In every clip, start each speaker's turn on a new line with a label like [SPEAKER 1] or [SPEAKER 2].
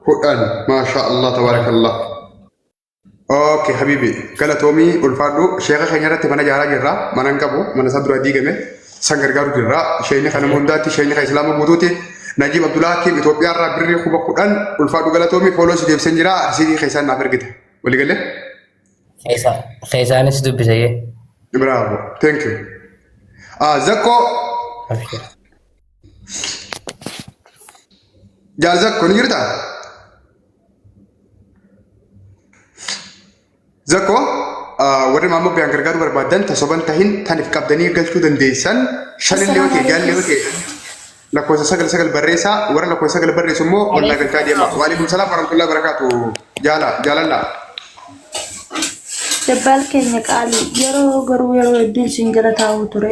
[SPEAKER 1] kudhan maashaa allah tabaarakallah ok habibi galatoomii ulfaadhu sheeka keenya irratti mana jaaraa jirra mana hin qabu mana isaa duraa diigame san gargaaru jirra sheekni kana hundaatti sheekni kan islaama guutuuti najiib abdulaa kiim itoophiyaa irraa birrii kuma kudhan ulfaadhu galatoomii fooloo si deebiseen jira arsiikii keessaan naaf ergite waliigalee Keessaanis
[SPEAKER 2] dubbise jee. bravo
[SPEAKER 1] thank you ah zakko Abshir. Jaazakko ni jirtaa? Zakko warri maammoo biyaan gargaaruu barbaadan tasoban tahin tanif qabdanii galchuu dandeessan shanillee yoo ta'e jaallee yoo ta'e lakkoofsa sagal sagal barreessaa warra lakkoofsa sagal barreessu immoo ollaa galchaa deema. Waalaikum salaam warahmatullahi barakaatu jaala jaalalla.
[SPEAKER 3] Jabbaal keenya qaali yeroo garuu yeroo hedduun siin jala taa'uu ture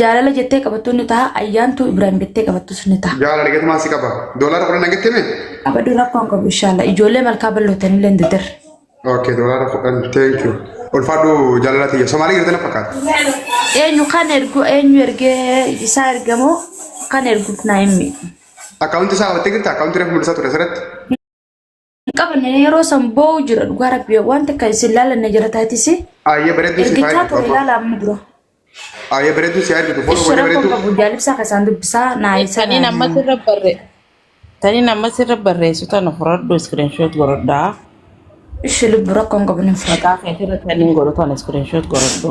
[SPEAKER 3] Jaalala jettee qabattuun ni taha. Ayyaantuu Ibrahim jettee qabattus ni taha. Jaalala gatumaan si qaba.
[SPEAKER 1] Doolaara kudhan nagatti mee? Abaduu rakkoon qabu
[SPEAKER 3] inshallah. Ijoollee malkaa ballootanii illee dudir. Okay, doolaara
[SPEAKER 1] kudhan. Thank you. Ulfaadhu jaalala tiyya. Somaalii jirtan fakkaata. Eenyu
[SPEAKER 3] kan ergu eenyu ergee isaa ergamoo kan erguuf naa himmi. Akkaawunti isaa
[SPEAKER 1] qabattee jirta? Akkaawunti reefu mul'isaa ture asirratti.
[SPEAKER 3] qabanne yeroo san boo'u jira dhugaa rabbi waan takka isin laalanne jira taatisi Ayyee bareedduu si
[SPEAKER 1] ergichaa faayadu. ture laala amma dura
[SPEAKER 3] Ayyee
[SPEAKER 1] bareedduu si argitu. Foon ishee wal rakkoon bareedduu. qabu jaalibsaa keessaan
[SPEAKER 3] dubbisaa naa isa Taniin amma sirra barre.
[SPEAKER 4] Taniin amma sirra barreessu tana fudhadhu iskiriinshoot godhadhaa. ishi
[SPEAKER 3] lubbu rakkoon qabu nin fudhata Maqaa keetirra taniin godhu
[SPEAKER 4] tana iskiriinshoot godhadhu.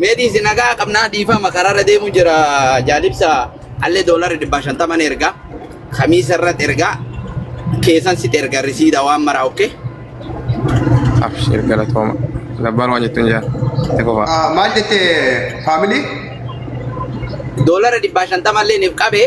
[SPEAKER 5] Mee dhiisi nagaa qabnaa dhiifama karaarra deemu jira jaalibsa allee doolarii dhibbaa shantaman erga kamiisa irratti erga keessan sit erga risiida waan maraa okkee.
[SPEAKER 6] Abshir galatooma. Labbaan waan jettuun jaa. Itti fufa. Maal
[SPEAKER 1] jette faamilii?
[SPEAKER 5] Doolarii dhibbaa shantaman illee niif qabee.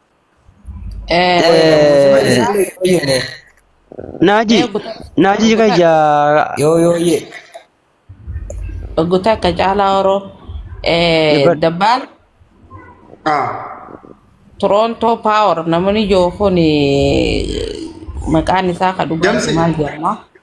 [SPEAKER 7] Naaji, naaji jika ja Yoo yoo
[SPEAKER 2] ye.
[SPEAKER 4] Gutaa ka caalaa horoo. Dhibba- Dabbaal Ah. Torontoo Paawar namni jiru kun maqaan isaa ka dhugaa Damsi. maal jedhama?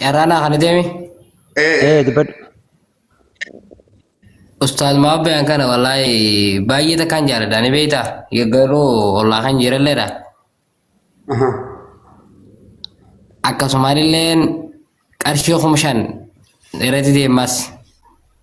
[SPEAKER 2] Carraa naa kana deemi. Ee Ee
[SPEAKER 7] dubbadhu.
[SPEAKER 2] Ustaaz Maabbeen kana wallaahi baay'ee takkaan jaaladha ni beektaa garuu ollaa kan jiralleedha. aha. Akkasumallee qarshii kuma shan irratti deemaas.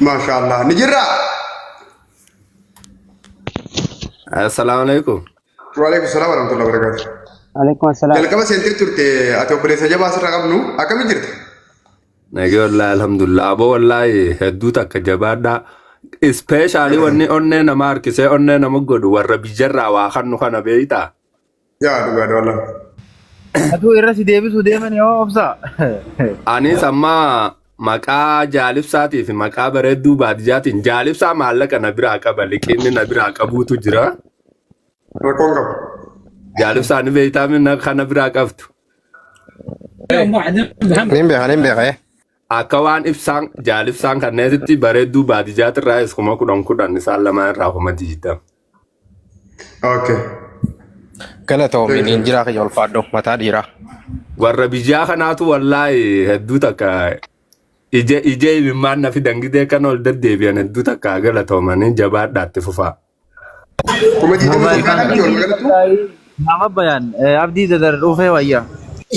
[SPEAKER 1] Maashaa Allah ni jirra.
[SPEAKER 6] Assalaamu alaikum. Waalaikum salaam
[SPEAKER 1] wa rahmatullahi wa barakaatu. Alaikum assalam.
[SPEAKER 7] Jalqaba seentee turte
[SPEAKER 1] ati obboleessa jabaa asirra qabnu akkami jirta? Nagee
[SPEAKER 6] wallaahi alhamdulillah. Aboo wallaahi hedduu takka jabaadhaa. Ispeeshaalii wanni onnee nama harkisee onnee nama godhu warra biyyarraa waa kannu kana beeytaa. Yaa dhugaa
[SPEAKER 1] doola. Atuu
[SPEAKER 8] irra si deebisuu deeman yoo obsaa. Anis
[SPEAKER 6] amma maqaa jaalibsaatii fi maqaa bareedduu baadiyyaatiin jaalibsaa maallaqa na biraa qaba liqinni na biraa qabuutu jira. Rakkoon
[SPEAKER 1] qabu. Jaalibsaa
[SPEAKER 6] ni beektaa minna kana biraa qabdu.
[SPEAKER 9] Nin beeka nin beeka. Akka waan
[SPEAKER 6] ibsaan jaal ibsaan kanneetitti bareedduu baadijaatirraayis kuma kudhan kudhan isaan lamaan irraa kuma diidam.
[SPEAKER 1] Okay.
[SPEAKER 9] Galatoomi Thank you. niin jiraa kiyya ulfaadhu mataa dhiiraa. Warra
[SPEAKER 6] biyyaa kanaatu wallaahi hedduu takka ija ija imimmaan nafi dangidee kan ol deddeebi'an hedduu takka galatoomanii jabaadhaatti fufaa. Kuma
[SPEAKER 1] digdama
[SPEAKER 8] Mobile jalqaa bank. qabdi walumaa galattu. Mama bayan. Eh, abdi dadar
[SPEAKER 10] ufe waya.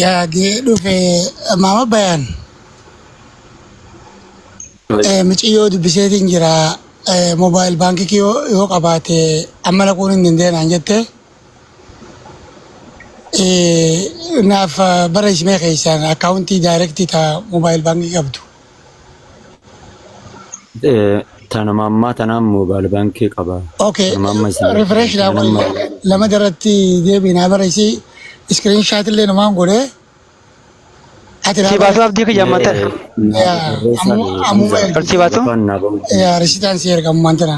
[SPEAKER 10] yaa gee dhufe maama bayaan eh, miciyyoo dubbiseetiin jira eh, mobaayil baankii kiyoo yoo qabaate amma laquun hin dandeenyaan jette eh, naaf eh, barreessimee keessaan akkaawuntii daayirektii taa mobaayil baankii qabdu.
[SPEAKER 11] Eh, tanuma ammaa tanaan moobaal baankii qaba. Okay, Tanuma amma isin
[SPEAKER 10] refresh dha tanuma qoyi. Lama daratti deebiin haa bara isii screen shot illee numaan godhee
[SPEAKER 7] ati raa Sii bara. baasuu abdii kiyya amma ta'e. eh, naaf Yaa, barreessaa ammu- ta'e ammuma Hamza erga. Sii baasuu? gafaan naaf barreessaa. Yaa, risitaan
[SPEAKER 10] si erga ammaan tana.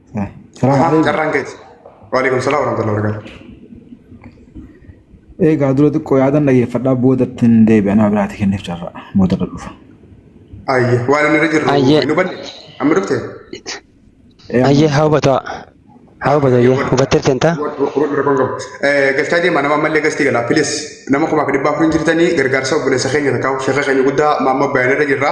[SPEAKER 8] Ahaa, Salaam carraan keeti.
[SPEAKER 1] Waalaikum salaam warahmatullahi wabarakatuh.
[SPEAKER 8] Eegaa dura xiqqoo yaadan dhageeffadhaa boodatti hin deebi'a nama biraati kenneef carraa booda irra dhufa. Ayye,
[SPEAKER 1] waan inni irra jirru Ayye. hin hubanne.
[SPEAKER 7] Amma dhufte? Ee,
[SPEAKER 1] amma Ayyee
[SPEAKER 7] haa hubataa. Haa hubatu ayyee. Hubattee seentaa?
[SPEAKER 1] Galchaa deemaa nama ammallee gastii galaa. Pilis nama kumaaf dhibbaa kun jirtanii gargaarsa obboleessa keenya takkaa sheeka keenya guddaa maamma bayanirra jirra.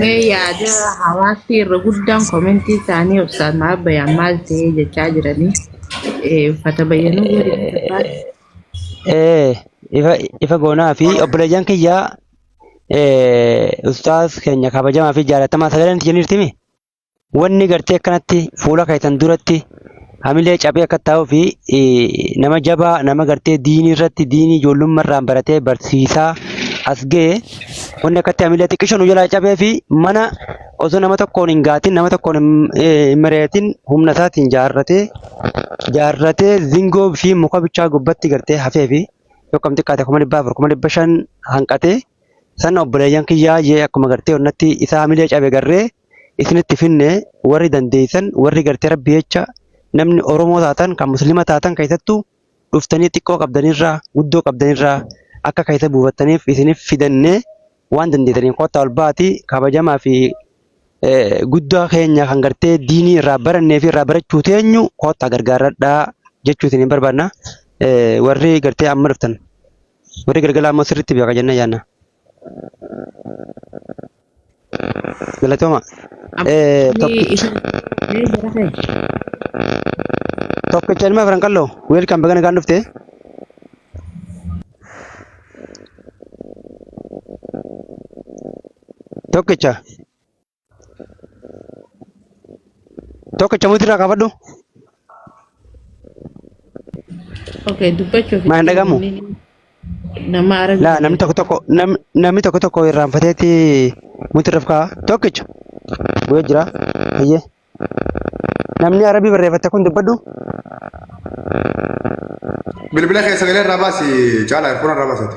[SPEAKER 4] Mee yaada hawaasni irra guddaan komentii isaanii obsaan maaf bayaan maal ta'ee jechaa jiranii eh, uffata bayyanuu godhe gurbaan. Eh,
[SPEAKER 7] ifa ifa goonaa fi obboleeyyan kiyyaa eh, ustaaz keenya kabajamaa fi jaalatamaa sagaleen itti jirtimi. Wanni gartee akkanatti fuula keessan duratti hamilee caphee akka ta'uu fi nama jabaa nama gartee diinii irratti diinii ijoollummaa irraan baratee barsiisaa as ga'e wanni akkatti hamilee xiqqisho nu jalaa cabee fi mana osoo nama tokkoon hin gaatin nama tokkoon hin mari'atin humna isaatiin jaarratee jaarratee zingoo fi muka bichaa gubbatti gartee hafee fi yookaan xiqqaate kuma dhibba afur kuma dhibba shan hanqatee sana obboleeyyan kiyyaa jee akkuma gartee onnatti isaa hamilee cabe garree isinitti finne warri dandeessan warri gartee rabbi jecha namni oromoo taatan kan muslima taatan keessattuu dhuftanii xiqqoo qabdanirraa guddoo qabdanirraa akka keessa buufattaniif isiniif fidanne waan dandeessaniin kottaa ol baati kabajamaa fi eh, guddaa keenya kan gartee diinii irraa barannee fi irraa barachuu teenyu kottaa gargaaradhaa jechuu isiniin barbaadna Eh, warri gartee amma dhuftan warri galgala ammoo sirriitti beeka jenna yaanna. Galatoomaa. Eh, Ni tokki- isin ni jira kee. Tokkicha ilma Afran Qalloo. Welcome baga nagaan dhufte. Tokkicha. Tokkicha buutii irraa kaafadhu.
[SPEAKER 4] Okay, dubbachuuf Maa hin dhagahamu?
[SPEAKER 7] nama
[SPEAKER 4] argaa Laa namni tokko tokko
[SPEAKER 7] nam- namni tokko tokko irraanfateeti muti irra kaa'a. Tokkicha bu'ee jira. Eeyyee. Namni arabii barreeffatte kun dubbadhu.
[SPEAKER 1] Bilbila keessa galee irraa baasi caalaa fuula irraa baasate.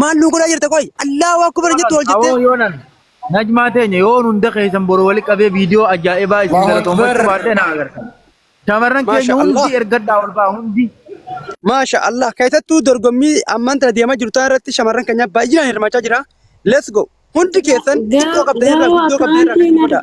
[SPEAKER 7] Maal nuu godhaa jirta qoy? Allaahu akbar jettu ol jettee. Aboo yoonan
[SPEAKER 8] najmaa teenya yoon hunda keessan boru wali qabee viidiyoo ajaa'ibaa isin Allahu galatoomachuu Akbar. baadhee na agartan. Shamarran keenya Maasha hundi Allah. ergadhaa ol ba'a hundi. Maasha
[SPEAKER 7] Allah. Keessattuu dorgommii ammaan tana deemaa jirtu tana irratti shamarran keenya baay'inaan hirmaachaa jira. Let's go. Hundi keessan xiqqoo qabdan irraa guddoo qabdan irraa gadi godhaa.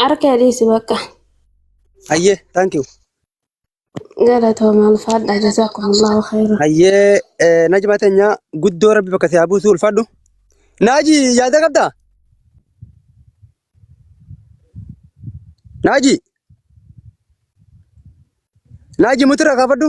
[SPEAKER 7] Harka
[SPEAKER 12] dhiisi bakka. Hayyee,
[SPEAKER 7] thank you.
[SPEAKER 12] Galatooma ulfaadha jazaakumullaahu khayra. Hayyee, eh,
[SPEAKER 7] Najma teenya guddoo rabbi bakka si haa buusu ulfaadhu. Naaji yaada qabdaa? Naaji, Naaji mutirra kaafadhu.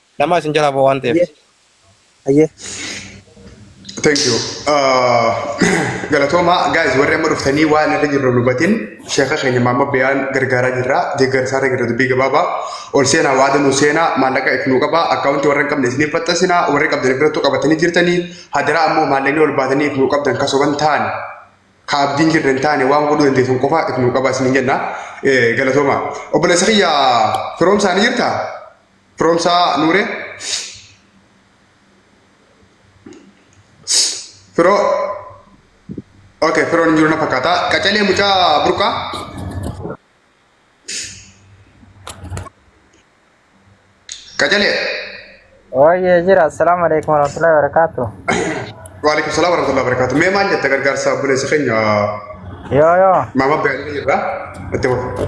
[SPEAKER 9] Nama isin jalaa ba'u waan ta'eef. Hayyee.
[SPEAKER 1] Thank you. Uh, galatooma guys warri amma dhuftanii waan irra jirru dubatin sheeka keenya maamma biyaan gargaaraa jirra deeggarsaa irra jirra dubbii gabaabaa ol seenaa waada nu seenaa maallaqa if nu qaba akkaawunti warra hin qabne isiniif faxxasina warri qabdan birattu qabatanii jirtanii hadaraa ammoo maallaqni ol baatanii if nu qabdan kasoban ta'an ka abdiin jirra hin taane waan godhuu dandeessan qofa if nu qaba isiniin jenna Eh, galatooma obboleessa kiyya firoomsaanii jirtaa? Firoomsaa Nuuree. Firoo. Ok, firoon hin jiru na fakkaata. Qacalee mucaa burqaa. Qacalee.
[SPEAKER 13] Waayee jira. Assalaamu alaikum warahmatullahi wabarakatuh. Waalaikum
[SPEAKER 1] salaam warahmatullahi wabarakatuh. Mee maal jette gargaarsa obboleessa keenya Yoo
[SPEAKER 13] yoo. maama Beelii
[SPEAKER 1] irraa itti fufu.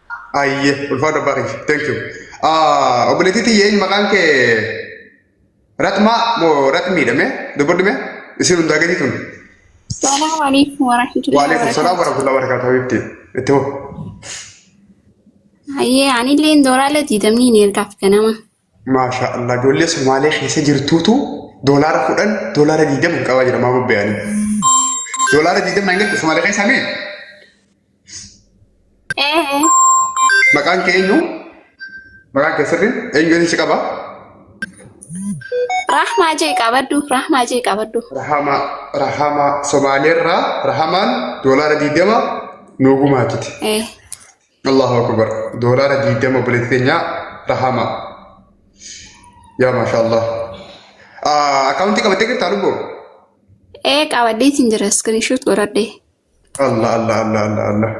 [SPEAKER 1] Ayyee ulfaadha baay'ee. Thank you. Ah, Obboleettii tiyya inni maqaan kee Ratmaa moo Ratmiidha mee? Dubbadhu mee? Isin hundaa gadii tun. Salaamu alaikum
[SPEAKER 12] warahmatullahi Waalaikum salaam wabarakatuh. warahmatullahi wabarakatuh.
[SPEAKER 1] Habiibti. Itti hoo.
[SPEAKER 12] Hayyee anillee doolaara diidamni ni ergaaf ganama. Maashaa Allah
[SPEAKER 1] ijoollee Somaalee keessa jirtuutu doolaara kudhan doolaara digdama hin qabaa jira maa bobbeeyanii. Doolaara digdama hin galtu Somaalee keessaa mee Ee. maqaan kee eenyu? Maqaan kee sirriin eenyu eenyu si qaba?
[SPEAKER 12] Rahmaa jee qabaddu. Rahmaa jee qabaddu. Rahamaa
[SPEAKER 1] Rahamaa Somaaleerraa Rahamaan doolaara digdama nuu gumaachite. Ee. Allahu akbar doolaara diidama obboleetti teenyaa rahama yaa maashaa allah akaawuntii qabattee jirtaa lubboo ee
[SPEAKER 12] qabadhee isin jira iskirinshuut godhadhee allah allah allah
[SPEAKER 1] allah allah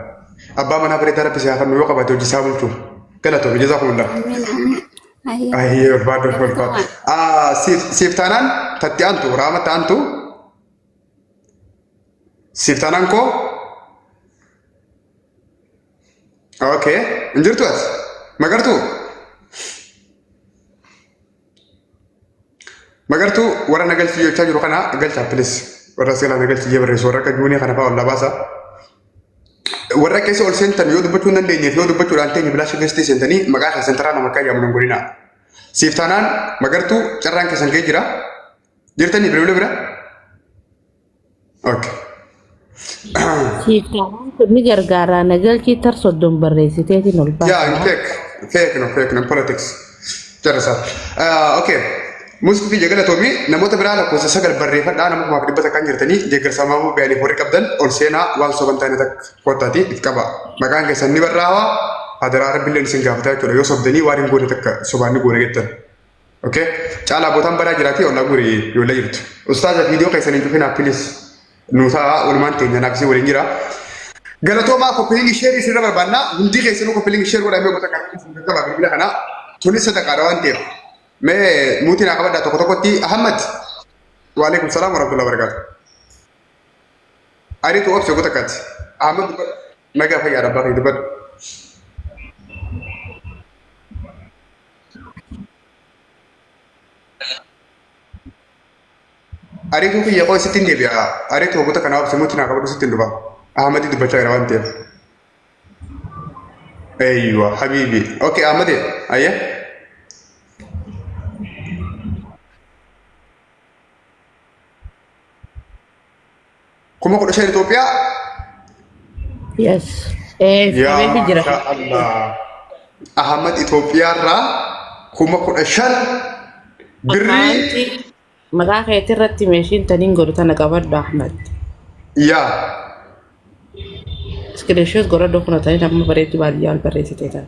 [SPEAKER 1] abbaa manaa bareedaa rabbi si haa kennu yoo qabaate hojii isaa bulchu galatoomi jazaa kumullah ayyee ulfaadhu ulfaadhu siif taanaan tatti aantu raama taantu Siif taanaan koo? Okay. Hin jirtu as? Magartuu? Magartuu warra na galchii jechaa jiru kana galchaa pilis. Warra seelaa na galchii jee barreessu warra akka juunii kana fa'aa ol labaasa. Warra keessa ol seentan yoo dubbachuu hin dandeenyeef yoo dubbachuudhaan teenye bilaasha keessatti seentanii maqaa keessan taraa nama akka yaamu hin godhinaa. Siif taanaan magartuu carraan keessan ga'ee jira. Jirtanii bilbila bira? Okay. Hiikkaawwan
[SPEAKER 4] kun ni gargaara. Nagalchii tar soddon barreessiteetiin ol baasa. Yeah,
[SPEAKER 1] fake. Fake no, fake no, politics. Jarasa. Uh, okay. Muslifi jagala tobi namoota biraa lakkoofsa sagal barreeffadhaa nama kumaaf dhibba takkaan jirtanii deeggarsa maamuu bayaaniif warri qabdan ol seenaa waan soban taane takka kottaati if qaba. Maqaan keessan ni barraa'aa hadaraa rabbilleen isin gaafata jechuudha yoo sobdanii waan hin goone takka sobaan ni goone jettan. Okay. Caalaa bootaan badaa jiraatee ollaa guri yoolla jirtu. Ustaaza viidiyoo keessan hin cufinaa pilis. Nuusaa walumaan teenya naaf isin waliin jira. Galatoomaa koppilingi sheerii isinirra barbaannaa hundi keessanuu koppilingi sheer godhaa mee goota kana isin gaggabaa bilbila kanaa tunis sadaqaadha waan ta'eef. Mee muutii naa qabadhaa tokko tokkotti Ahmad. Waalaikum salaam warahmatullahi wabarakatuh. Ariitu obse goota kaati. Ahmad dubbadhu. Nagaa fayyaa dhabbaa kee dubbadhu. Ariituu kiyya qoy sittin deebi'a. Ariitu waggoota kana obsi mutti naa qabadhu sittin dhufa. Ahmadi dubbachaa jira waan ta'eef. Eeyyuwa habiibi. Okey Ahmadi ayya. Kuma kudha shan Itoophiyaa.
[SPEAKER 4] Yes. Eh, Yaa
[SPEAKER 1] qabeefi jira. maashaa Allah. Ahmad Itoophiyaarraa kuma kudha shan birrii Akkaawuntii
[SPEAKER 4] maqaa keetii irratti meeshiin taniin godhu tana qabadhu Ahmed. yaa Iskiriishoot godhadhu kuna taniin amma bareedduu baadiyyaa ol barreessitee tana.